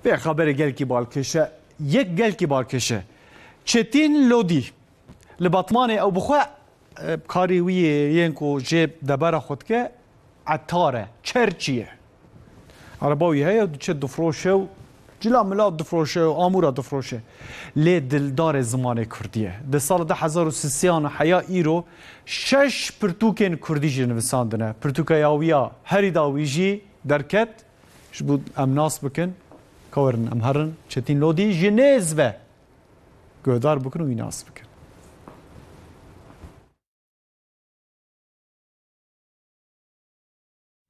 Vê xeberê gelkî balkêş e. Yek gelkî balkêş e. Çetîn Lodî li Batmanê ew bi xwe karê wî yê yên ku jê debera xwe dike etar e, çerçî ye. Araba wî heye û diçe difroşe û cila mila difroşe û amûra difroşe. Lê dildarê zimanê kurdî ye. Di sala du hezar û sisiyan û heya îro şeş pirtûkên kurdî jî nivisandine. Pirtûka ya wî ya herî da wî jî derket. Ji bo em nas bikin, kawerin em herin Çetîn Lodî ji nêz ve guhdar bikin û wî nas bikin.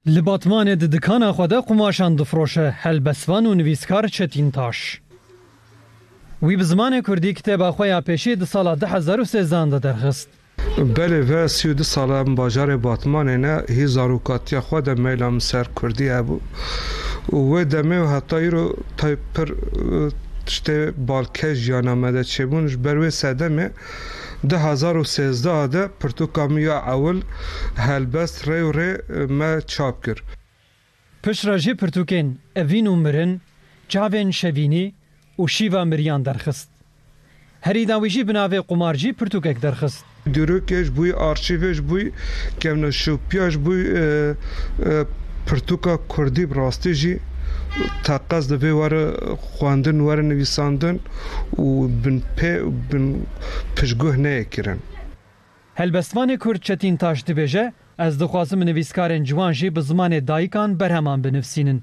Li Batmanê di dikana xwe de qumaşan difroşe helbestvan û nivîskar Çetîn Taş. Wî bi zimanê kurdî kitêba xwe ya pêşî di sala du hezar û sêzan de derxist. Belê ve sî û du sal e min bajarê Batmanê ne, hî zarokatiya xwe de meyla min ser kurdî hebû û wê demê û heta îro tayê pir tiştê balkêş jiyana me de çêbûn. Ji ber wê sedemê du hezar û sêzdeh a de pirtûka min ya ewil Helbest rê û rê me çap kir. Piştre jî pirtûkên evîn û mirin, çavên şevînî û şîva miriyan derxist. Herî dawî jî bi navê Qumarcî pirtûkek derxist. Dîrokê ji bo arşîvê, ji bo kevneşopiya, ji bo pirtûka kurdî bi rastî jî teqez dibe were xwendin, were nivîsandin û binpê û binpiştguh neyê kirin. Helbestvanê Kurd Çetîn Taş dibêje, Ez dixwazim nivîskarên ciwan jî bi zimanê dayikan berheman binivsînin.